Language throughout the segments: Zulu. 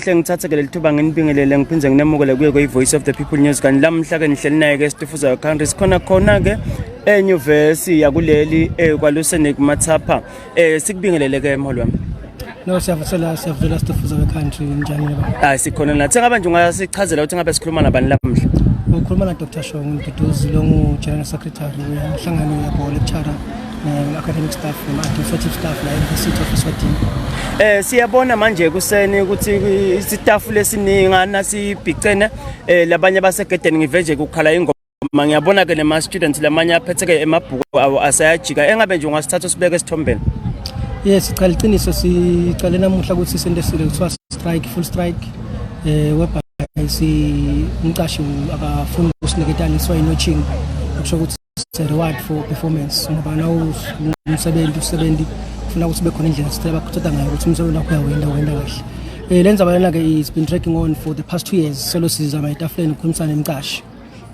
Hle ngithathe ke leli thuba nginibingelele ngiphinde nginemukele kuye kweyi-voice of the people news kanti lamhla ke nihleli naye ke esitufuzayo country sikhona khona ke enyuvesi yakuleli eh, kwalusenik mathapha eh, sikubingelele ke mholi wami no siyavusela siyavusela stufuza we-country njani baba hayi sikhona nathi ngabe nje ungasichazela ukuthi ngabe sikhuluma nabani lamhla ukhuluma na-dr shong ngiduduzi longu-general secretary wenhlangano yabhola ekuchara um, academic staff noma administrative staff la encity office wedim um eh, siyabona manje ekuseni ukuthi isitafu lesiningana sibhicene um eh, labanye basegedeni ngive nje kukhala ingoma Ma ngiyabona ke nema students lamanye aphetheke emabhuku awo asayajika engabe nje ungasithatha usibeke esithombeni Yes siqala iqiniso siqale namuhla ukuthi isento esile kuthiwa strike full strike eh webha si umqashi akafuni usiniketana iswa inotching kusho ukuthi it's a reward for performance ngoba nawumsebenzi usebenzi ufuna ukuthi kube khona indlela sithela bakuthatha ngayo ukuthi umsebenzi wakho uyawenda wenda kahle eh lenza balana ke is been tracking on for the past 2 years solo sizama etafuleni ukukhulumisana nemcashi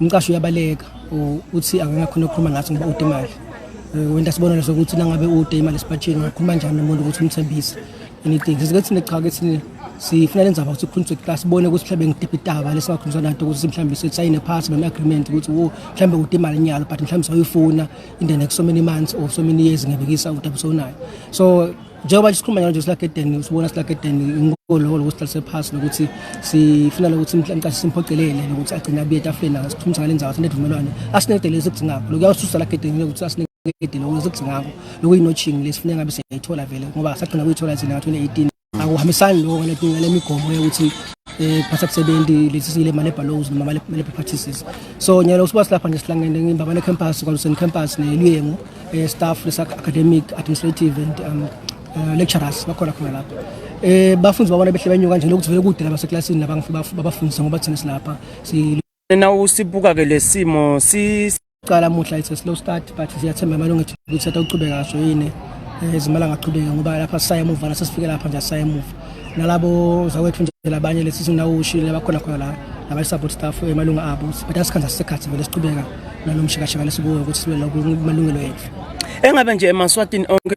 umcashi uyabaleka uthi akangakhona ukukhuluma ngathi ngoba ude imali eh, wenda sibonelo sokuthi nangabe ude imali esipatshini ungakhuluma njani nomuntu ukuthi umthembise anything sike thina cha ke thina sifuna le ndzaba ukuthi ikhulunyiswe kuqala sibone ukuthi mhlawumbe ngidiphi itaba lesingakhulunyiswa nanto ukuthi mhlawumbe sisayine phasi noma agreement ukuthi wo mhlawumbe kude imali nyalo but mhlawumbe sawuyifuna in the next so many months or so many years ngebekisa udaba sonayo so njengoba nje sikhuluma nje silagedeni usibona silagedeni ngikolo lokuthi sihlale phasi nokuthi sifuna lokuthi mhlawumbe simphocelele lokuthi agcine abuye etafuleni asithumisa ngale ndzaba sinedumelwane asinedelezi kudingakho lokuyawususa lagedeni ukuthi asinedelezi kudingakho lokuyinotching lesifuneka ngabe siyayithola vele ngoba sagcina kuyithola thina ngo-2018 akuhambisani lokho ngaletinga lemigomo yokuthi eh phatha kusebenzi lesi sile male ballows noma male male practices so nyalo usuba silapha nje silangene ngimbabane campus kwalusen campus neluyengu eh staff lesa academic administrative and um uh, lecturers bakhona khona lapho eh bafunzi babona behle benyuka nje lokuthi vele kude laba seklasini laba ngifika babafundisa ngoba thina silapha si na usibuka ke lesimo si cala muhla it's a slow start but siyathemba amalungu ethu ukuthi atawuqhubeka kaso yini eh, izimali angaqhubeki ngoba lapha sisaye emuva la sesifike lapha nje sisaye emuva nalabo zakwethu nje labanye lesi sinawo ushile bakhona khona la nabanye support staff emalungu abo but asikhanza sisekhathi vele siqhubeka nalomshikashika lesikuwo ukuthi sibe lokhu malungelo ethu engabe nje emaswatini onke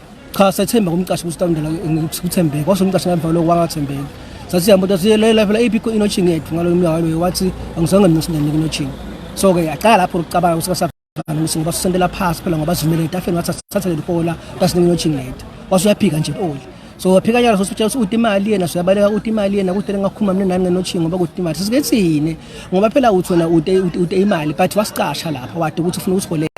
cha sethemba kumqashi kusitandela ngikuthembeke kwase umqashi ngamva lokho wangathembeki sathi sihamba ukuthi siyelela phela iphi inotching yethu ngalo mnyaka loyo wathi angizange nginosindanike inotching so ke yaqala lapho ukucabanga ukuthi kasafana ukuthi ngoba sisendela phasi phela ngoba sizimele etafeni ngathi sathatha leli bola kasinike inotching yethu wase uyaphika nje oli so waphika nyalo sositshela ukuthi uthi imali yena siyabaleka ukuthi imali yena kuthi ngakhuluma mina nami ngenotching ngoba kuthi imali sisike thine ngoba phela uthi wena ude ude imali but wasicasha lapha wade ukuthi ufuna usiholele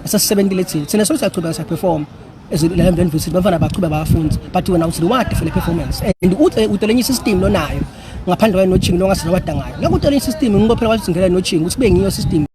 sesisebentile thina thina so siyaqhubeka siyaperform ezilala mntwana visit bafana baqhubeka bafunde but wena uthi wade for the performance and uthi utelenye system lonayo ngaphandle kwayo nothingi longasizwa wadangayo ngakutelenye system ngibophela wathi ngela nothingi ukuthi bengiyo system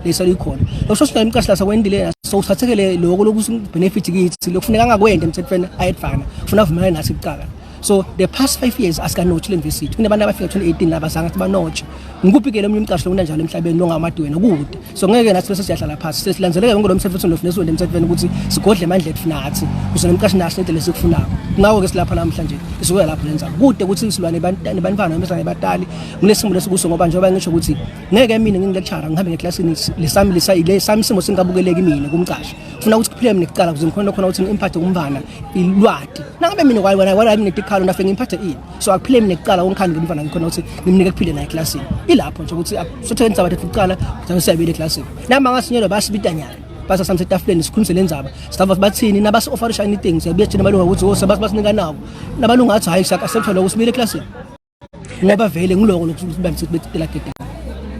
lesalo ikhona lokusho sinayo imcashla sakwendilela so usiphathekele lokho lokuthi benefit kithi lokufuneka angakwenda emthethweni ayedvana ufuna avumelane nathi kuqala so the past 5 years asikanotshi le university kunabantu abafika 2018 laba zanga ukuthi banotshi ngikuphi ke lo mnye umcasho lona njalo emhlabeni lo ngamadiwena kude so ngeke nathi bese siyahlala phansi sesilanzeleke yonke lo msebenzi lo funeso emthethweni ukuthi sigodle amandla ethu nathi kuze nomcashi nathi into lesikufunayo ngawo ke silapha namhlanje sizoya lapho lenza kude ukuthi silwane bantwana bantwana emhlanje batali nginesimo lesikuso ngoba njengoba ngisho ukuthi ngeke mina ngingilecture ngihambe ngeclassini lesami lesayile sami simo singabukeleki mina kumcasha ufuna ukuthi kuphile mina kuqala kuze ngikhona khona ukuthi ngimphathe kumvana ilwadi nangabe mina kwayi wena wala mina tikhalo nafe ngimphathe ini so akuphile mina kuqala ongikhani ngimvana ngikhona ukuthi ngimnike kuphile naye eclassini ilapho nje ukuthi sothe ngisaba thatha kuqala kuze siyabile eclassini nama ngasinyelo basibitanyana basa samse tafuleni sikhulumise le ndaba sitava bathini nabasi offer anything siyabuya thina malunga ukuthi oh, sebasinika nabo nabalunga athi hayi sakasephethe lokho simile eclassini ngoba vele ngiloko lokusibambisa ukuthi betela gedana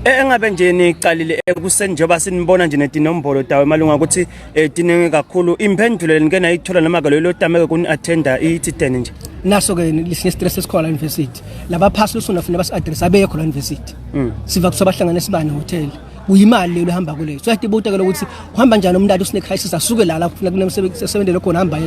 eh, engabe nje niqalile ekuseni njengoba sinibona nje netinombolo dawe malunga ukuthi eh, tiningi kakhulu imphendulo lenike nayithola noma ke lelo tameke kuni attenda ithideni nje naso ke lihle stress esikhona university laba phasi losona funa basi address abekho la university mm. siva kusoba hlangana sibane hotel uyimali leyo ehamba kuleyo so yatibuta ke lokuthi uhamba njani umntana usine crisis asuke la la kufuna kunemsebenzi esebenzele khona hamba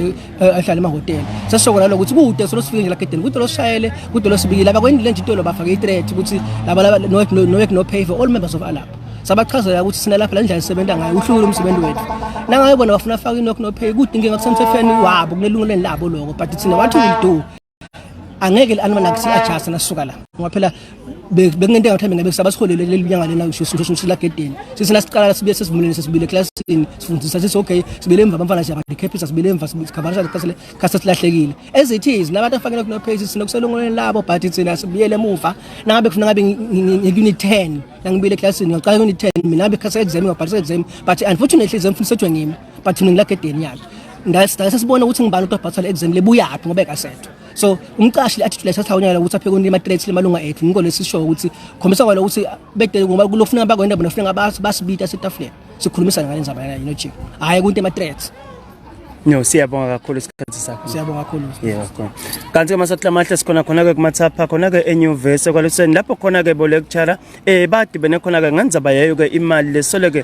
eh, ahlale emahhotela sesisoko nalo ukuthi kude solo sifike nje lagedeni kude loshayele kude losibikile abakwendile nje intolo bafake i-threat ukuthi laba laba no work no, no, work, no pay for all members of alab sabachazela ukuthi sina lapha la ndlela sisebenza ngayo uhlukile umsebenzi wethu nangayo bona bafuna afake i-knock no pay kude inkinga kusemthethweni wabo kunelungelweni labo loko but thina what will do angeke li-anima nakuthi ajasta nasuka la ngoba phela bekungento engathi mina bekusaba siholele leli nyanga lena ngisho sisho silagedeni sisina siqala sibuye sesivumuleni sesibile classini sifundisa sithi okay sibile emva bamfana siya badikhephisa sibile emva sikhavarisa lekhasile khasa silahlekile as it is nabantu afakela kuno page sino kuselongoleni labo but thina sibuyele emuva nangabe kufuna ngabe ngi-unit 10 nangibuyele classini ngaqala unit 10 mina bekhasa exam ngabhalisa exam but unfortunately exam funisethwe ngimi but mina ngilagedeni yakhe ngase sibone ukuthi ngibani uthi wabhathwa le exam lebuyaphi ngoba ekasetho so umqashi le attitude leso sawunyala ukuthi apheke kunima threats lemalunga ethu ngiko lesisho ukuthi khombisa kwalo ukuthi bedele ngoba kulofuna bakwenda bona ufuna ngabathi basibita setafuleni sikhulumisana ngale ndzaba yena yino chief hayi kunti ama threats No siyabonga kakhulu isikhathi sakho. Siyabonga kakhulu. Yeah, okay. Kanti uma sahlamahle sikhona khona ke kumathapha khona ke enyuvesi kwaluseni lapho khona ke bo lecturer eh badibene khona ke ngandzaba yayo ke imali lesole ke